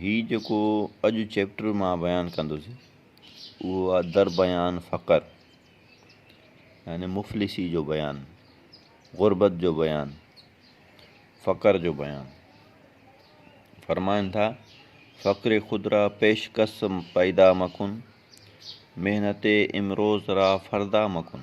هي جيڪو اڄ چيپٽر مان بيان ڪندس اهو آ در بيان فقر يعني مفلسي جو بيان غربت جو بيان فقر جو بيان فرمائن ٿا فقر خود را پيش کس پيدا مکن محنت امروز را فردا مکن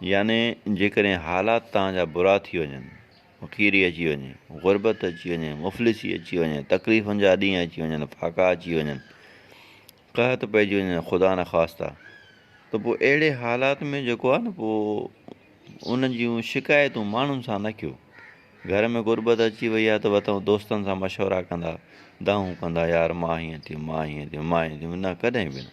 يعني جيڪڏهن حالات توهان جا برا ٿي وڃن، فقيري اچي وڃي، غربت اچي وڃي، مفلسي اچي وڃي، تڪليفن جا ڏينهن اچي وڃن، ڦاڪا اچي وڃن، قحط پئجي وڃي خدا نخواسته ته پوء اهڙي حالات ۾ جيڪو آهي نه پوء ان جون شڪايتون ماڻهن سان نه ڪيو گهر ۾ غربت اچي وئي آهي ته وتو دوستن سان مشورا ڪندا دانهون ڪندا يار مان هيئن ٿيم مان هيئن ٿيم مان هيئن ٿيم نه ڪڏهن به نه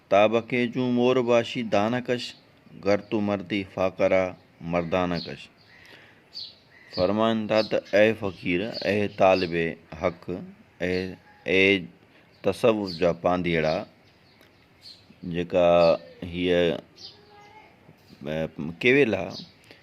تاب کي جون مور باشي دانه ڪش، گر تون مردي فاقه را مردانه ڪش. فرمائن ٿا ته اي فقير، اي طالب حق، اي اي تصوف جا پانڌيئڙا، جيڪا هيء ڪيويل آ،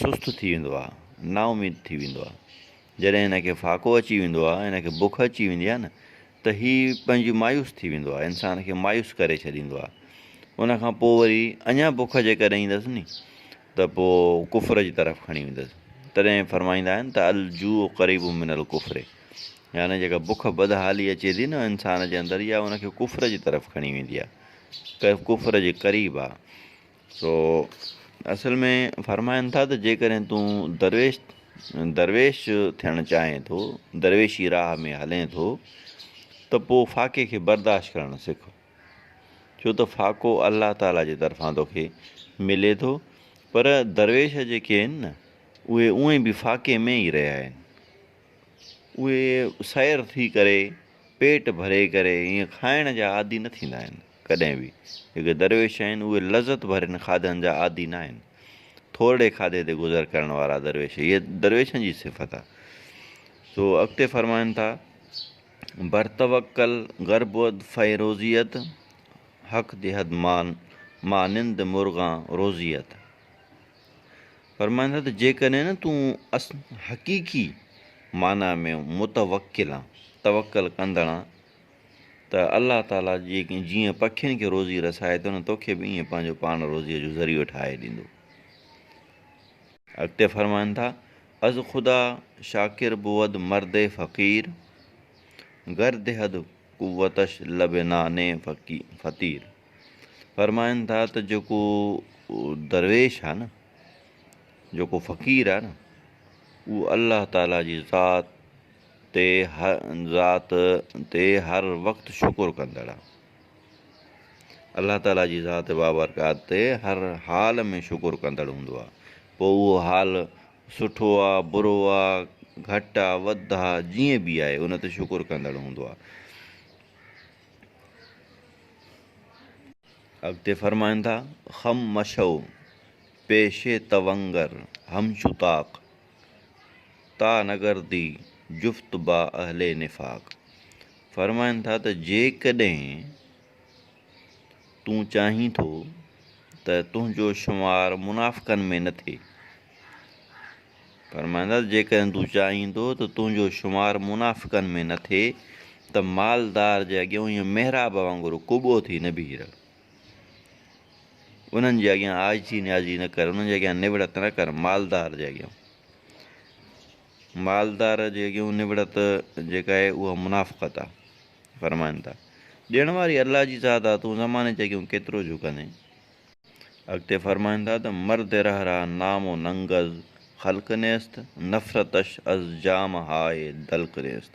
سست ٿي ويندو آ نااميد ٿي ويندو آ جڏهن هن کي ڦاڪو اچي ويندو آ هن کي بک اچي ويندي آ نه ته هي پنهنجي مايوس ٿي ويندو آ انسان کي مايوس ڪري ڇڏيندو آ ان کان پوء وري اڃا بک جيڪڏهن ايندس ني ته پوء ڪفر جي طرف کڻي ويندس تڏهن فرمائيندا آهن ته الجوع قريب من الڪفر يعني جيڪا بک بدحالي اچي ٿي نه انسان جي اندر يا ان کي ڪفر جي طرف کڻي ويندي آ ڪفر جي قريب آ سو اصل ۾ فرمائن ٿا ته جيڪڏهن تون درويش درويش ٿيڻ چاهين ٿو درويشي راهه ۾ هلين ٿو ته پوء فاقي کي برداشت ڪرڻ سک ڇو ته فاقو الله تعاليٰ جي طرفان توکي ملي ٿو پر درويش جيڪي آهن نه اهي اونئي به فاقي ۾ ئي رهيا آهن اهي سير ٿي ڪري پيٽ ڀري ڪري ائين کائڻ جا عادي نه ٿيندا آهن ڪڏهن به. جيڪي درويش آهن، اهي لذت ڀرين کاڌن جا عادي ناهن. ٿورڙي کاڌي تي گذر ڪرڻ وارا درويش، هيء درويشن جي صفت آهي. سو اڳتي فرمائن ٿا، بر توڪل گر بود فيروزيت، حق دهد مان مانند مرغان روزيت. فرمائن ٿا ته جيڪڏهن نه تون حقيقي معنيٰ ۾ متوڪل آن، توڪل ڪندڙ آن، ته الله تعاليٰ جيئن پکين کي روزي رسائي ٿو نه توکي به ائين پنهنجو پاڻ روزيء جو ذريعو ٺاهي ڏيندو. اڳتي فرمائن ٿا، از خدا شاڪر بود مرد فقير، گر دهد قوتش لب نان فطير. فرمائن ٿا ته جيڪو درويش آهي نه، جيڪو فقير آهي نه، اهو الله تعاليٰ جي ذات، تي ذات تي هر وقت شڪر ڪندڙ. الله تعالي جي ذات بابرڪات تي هر حال ۾ شڪر ڪندڙ هوندو آهي پوء اهو حال سٺو آ برو آ گهٽ آ وڌ آ جيئن به آهي ان تي شڪر ڪندڙ هوندو آهي. اڳتي فرمائن ٿا، خم مشئو پيشي تونگر همچو طاق. تا نگر دي جفت با اهل نفاق فرمائن ٿا ته جيڪڏهن تون چاهين ٿو ته تنهنجو شمار منافقن ۾ نه ٿئي فرمائن ٿا جيڪڏهن تون چاهين ٿو ته تنهنجو شمار منافقن ۾ نه ٿئي ته مالدار جي اڳيان ائين محراب وانگر ڪوٻو ٿي نه بيهي رهه انهن جي اڳيان عاجزي نيازي نه ڪر، انهن جي اڳيان نوڙت نه ڪر، مالدار جي اڳيان. مالدار جي اڳيون نوڙت جيڪا آهي اها منافقت آ. فرمائن ٿا. ڏيڻ واري الله جي ذات آ، تون زماني جي اڳيون ڪيترو جهڪندين. اڳتي فرمائن ٿا ته مرد رهه رهه نام و ننگ از خلق نيست، نفرتش از جام هاء دلق نيست.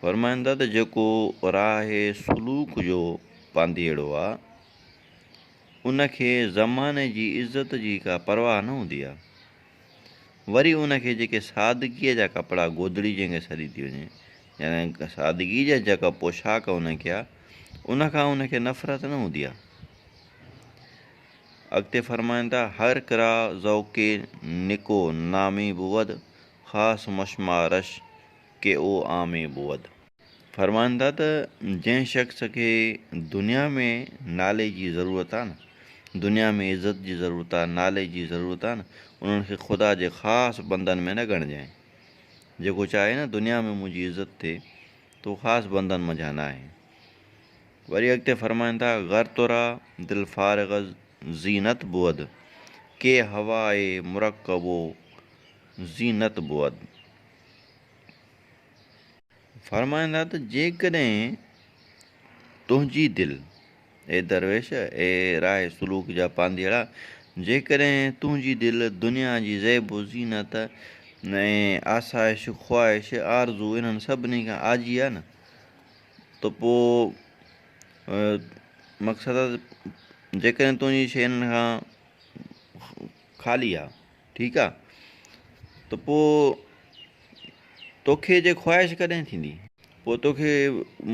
فرمائن ٿا ته جيڪو راهه سلوڪ جو پانڌيئڙو آ، ان کي زماني جي عزت جي ڪا پرواهه نه هوندي آ، وري ان کي جيڪي سادگيء جا ڪپڙا گودڙي جنهن کي سڏي ٿي وڃي، يعني سادگيء جا جيڪا پوشاڪ ان کي آ، ان کان ان کي نفرت نه هوندي آ. اڳتي فرمائن ٿا، هر ڪرا ذوقِ نڪو نامي بود، خاص مشمارش ڪي او عامي بود. فرمائن ٿا ته جنهن شخص کي دنيا ۾ نالي جي ضرورت آهي نه دنيا ۾ عزت جي ضرورت آهي نالي جي ضرورت آهي نه انهن کي خدا جي خاص بندن ۾ نه ڳڻجانء جيڪو چاهي نه دنيا ۾ منهنجي عزت ٿئي ته هو خاص بندن منجهان نه آهي وري اڳتي فرمائن ٿا غر ترا دل فارغ زينت بود ڪي هواء مرڪبو زينت بود فرمائن ٿا ته جيڪڏهن تنهنجي دل، اي درويش، اي راهه سلوڪ جا پانڌيئڙا، جيڪڏهن تنهنجي دل دنيا جي زيب و زينت ۽ آسائش، خواهش، آرزو انهن سڀني کان آجي آهي نه ته پوء مقصد آهي ته جيڪڏهن تنهنجي شيء انهن کان خالي آهي. ٺيڪ آ ته پوء توکي جي خواهش ڪڏهن ٿيندي؟ پوء توکي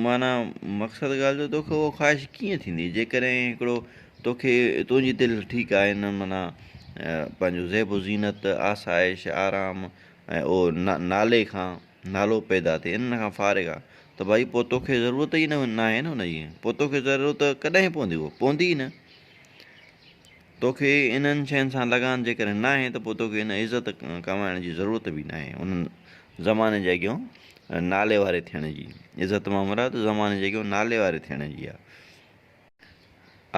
معنيٰ مقصد ڳالهه جو توکي اها خواهش ڪيئن ٿيندي جيڪڏهن هڪڙو توکي تنهنجي دل ٺيڪ آهي نه معنيٰ پنهنجو زيب و زينت آسائش آرام ۽ اهو نالي کان نالو پيدا ٿئي انهن کان فارغ آ ته ڀائي پوء توکي ضرورت ئي ناهي نه ان جي پوء توکي ضرورت ڪڏهن پوندي اهو پوندي ئي نه. توکي انهن شين سان لڳان جيڪڏهن ناهي ته پوء توکي ان عزت ڪمائڻ جي ضرورت به ناهي انهن زماني جي اڳيون نالي واري ٿيڻ جي عزت مان مراد زماني جي اڳيون نالي واري ٿيڻ جي آ.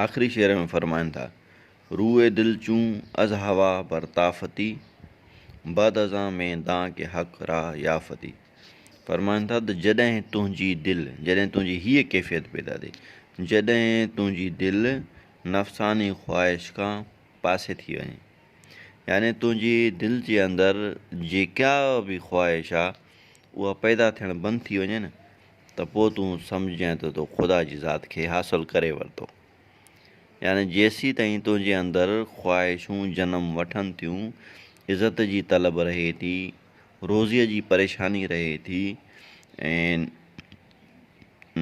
آخري شعر ۾ فرمائن ٿا روئي دل چون از هوا بر طافتي بعد ازان مين دان ڪي حق را يافتي فرمائن ٿا ته جڏهن تنهنجي دل جڏهن تنهنجي هيء ڪيفيت پيدا ٿئي جڏهن تنهنجي دل نفساني خواهش کان پاسي ٿي وڃي يعني تنهنجي دل جي اندر جيڪا به خواهش آ اها پيدا ٿيڻ بند ٿي وڃي نه ته پوء تون سمجھ جانء ته تو خدا جي ذات کي حاصل ڪري ورتو يعني جيسين تائين تنهنجي اندر خواهشون جنم وٺن ٿيون عزت جي طلب رهي ٿي روزيء جي پريشاني رهي ٿي ۽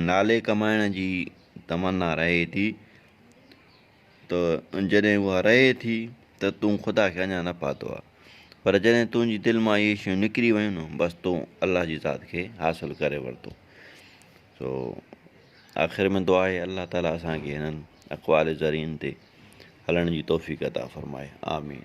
نالي ڪمائڻ جي تمنا رهي ٿي ته جڏهن اها رهي ٿي ته تون خدا کي اڃا نه پاتو آهي پر جڏهن تنهنجي دل مان اهي شيون نڪري ويون نه بس تون الله جي ذات کي حاصل ڪري ورتو سو آخر ۾ دعا آهي الله تعاليٰ اسان کي هنن اقوال زرين تي هلڻ جي توفيق عطا فرمائي آمين